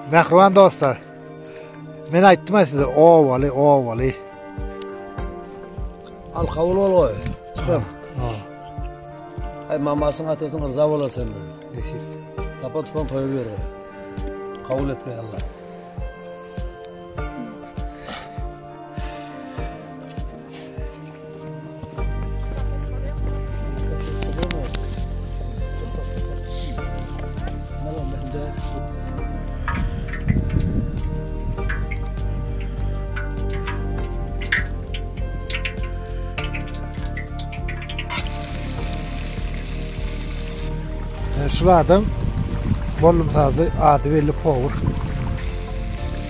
Mähriban dostlar, men aýtdym ya size owaly, owaly. Al kabul ol goý. Çykam. Ay mamasyň atasyň rza bolar senden. Tapa tupan toýa ber. Kabul etme Allah. Şu adam Mollum sazly ady belli Power.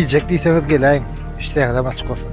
Iýjek diýseňiz geläýiň, işdäňizem açyk bolsun.